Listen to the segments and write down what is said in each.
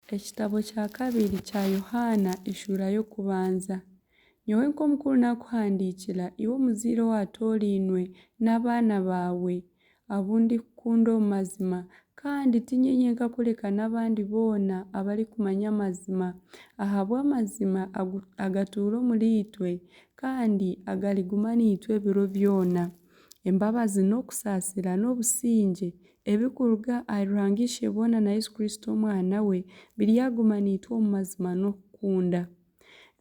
Ekitabo kya kabiri kya Yohaana eshuura y'okubanza. Nyowe nk'omukuru naakuhandiikira, iwe omuzaire owaatoorainwe, n'abaana baawe, abu ndikukunda omu mazima, kandi tiinye nyenka kureka n'abandi boona abarikumanya amazima, ahabw'amazima agatuura omuriitwe, kandi agariguma naitwe ebiro byona. Embabazi n'okusaasira n'obusingye ebirikuruga ahari Ruhanga Isheboona na Yesu Kristo Omwana we biryaguma naitwe omu mazima n'okukunda.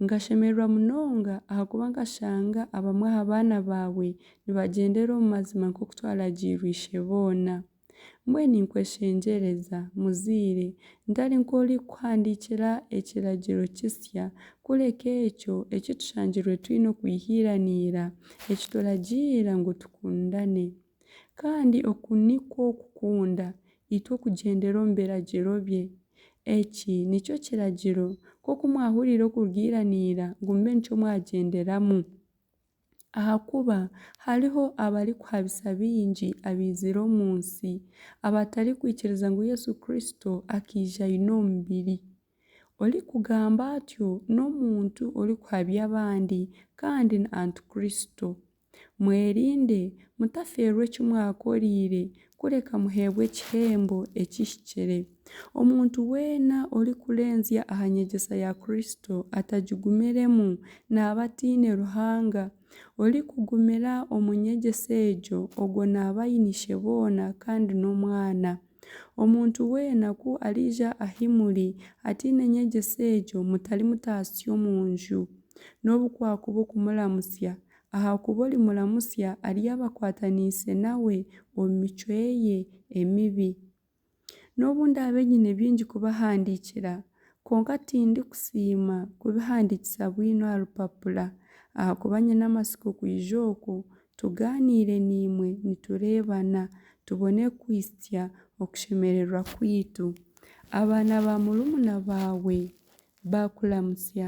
Nkashemererwa munonga ahakuba nkashanga abamwe aha baana baawe nibagyendera omu mazima nk'oku twaragiirwe Isheboona. Mbwenu ninkweshengyereza, muzaire, ntari nk'orikukuhandiikira ekiragiro kisya, kureka ekyo eki tushangirwe twine okwihiiraniira, eki turagiira ngu tukundane. Kandi oku nikwo kukunda, itwe okugyendera omu biragiro bye. Eki nikyo kiragiro, nk'oku mwahuriire okurugiiraniira, ngu mube nikyo mwagyenderamu. Ahakuba hariho abarikuhabisa baingi abaizire omu nsi abatarikwikiriza ngu Yesu Kristo akaija aine omubiri. Orikugamba atyo n'omuntu orikuhabya abandi kandi ni Antikristo. Mwerinde mutafeerwa eki mwakoreire Kureka muheebwe ekihembo ekihikire. Omuntu weena orikurenzya aha nyegyesa ya Kristo atagigumiremu naaba ataine Ruhanga. Orikugumira omu nyegyesa egyo, ogwo naaba aine Isheboona kandi n'Omwana. Omuntu weena ku ariija ahi muri ataine nyegyesa egyo, mutari mutaasya omu nju. N'obu kwakuba okumuramutsya, Ahakuba orimuramutsya aryaba akwataniise nawe omu micwe ye emibi. N'obu ndaabe nyine bingi kubahandiikira, kwonka tindikusiima kubihandiikisa bwino aha rupapura, ahakuba nyine amatsiko kwija okwo, tugaaniire naimwe nitureebana, tubone kuhitsya okushemererwa kwaitu. Abaana ba murumuna baawe baakuramutsya.